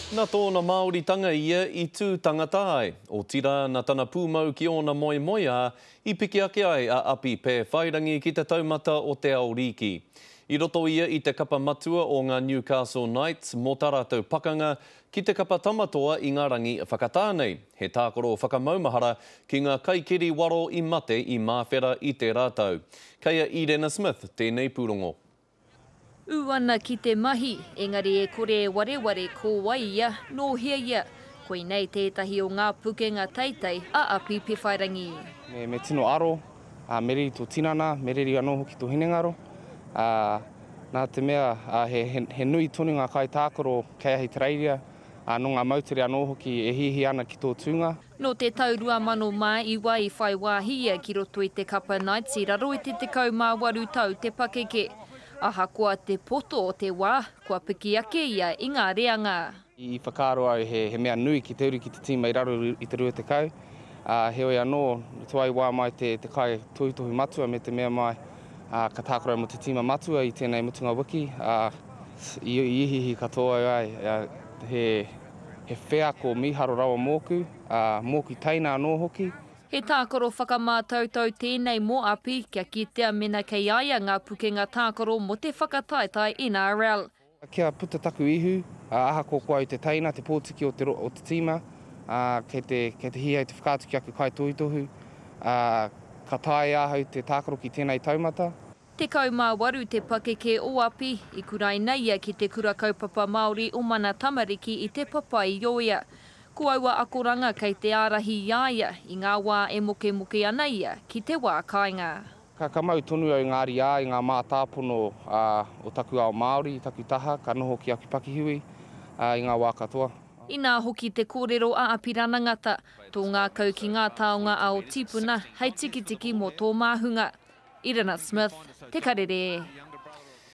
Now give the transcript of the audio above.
Na tōna Māoritanga ia i tū tangata ai, otirā na tana pūmau ki ōna moemoeā i piki ake ai a Api Pēwhairangi ki te taumata o Te Aorīki. I roto ia i te kapa matua o ngā Newcastle Knights mō tā rātou pakanga ki te kapa tamatoa i ngā rangi whakatā nei, he tākaro whakamaumahara ki ngā kaikiri waro i mate i Māwhera i tērā tau. Kei a Irena Smith tēnei pūrongo. Ū ana ki te mahi, engari e kore e wareware ko wai ia, nō hea ia. Koinei tētahi o ngā pukenga teitei a Api Pewhairangi. Me, me tino aro, ā, me riri tō tinana, me riri anō hoki tō hinengaro, ā, nā te mea, ā, he, he, he nui tonu ngā kaitākaro kei ahitereiria, ā, nō ngā moutere anō hoki e hiahia ana ki tō tūnga. Nō te tau 2009 i whai wāhi ia ki roto i te Kapa Knights i raro i te 18 tau te pakeke. Ahakoa te poto o te wā, kua piki ake ia i ngā reanga. I whakaaro au he mea nui ki te uru ki te tīma i raro i te 20, ā, heoi anō, tō ai wā mai te kai tohutohu matua me te mea mai ka tākaro mō te tīma matua i tēnei mutunga wiki, ā, i ihiihi katoa au ai he He wheako mīharo rawa mōku, ā, mōku teina anō hoki. He tākaro whakamātautau tēnei mō Api kia kitea mēnā kei a ia ngā pukenga tākaro mō te whakataetae NRL. Kia puta taku ihu, ā, ahakoa ko au te teina, te pōtiki o te o te tīma, ā, kei te, kei te hīhai te whakaatu ki aku kaitohutohu, ā, ka taea e ahau te tākaro ki tēnei taumata. Tekau mā waru te pakeke o Api i kuraina ia ki Te Kura Kaupapa Māori o Mana Tamariki i Te Papaioea. Ko aua akoranga kei te ārahi i a ia i ngā wā e mokemoke ana ia ki te wā kāinga. Ka kamau tonu au ngā ariā i ngā mātāpono o taku ao Māori, taku taha, ka noho ki Akipakihiwi i ngā wā katoa. Inā hoki te kōrero a Apirana Ngata, Tō ngākau ki ngā taonga ao tīpuna hei tikitiki mō tō māhunga. Irina Smith, Te Karere.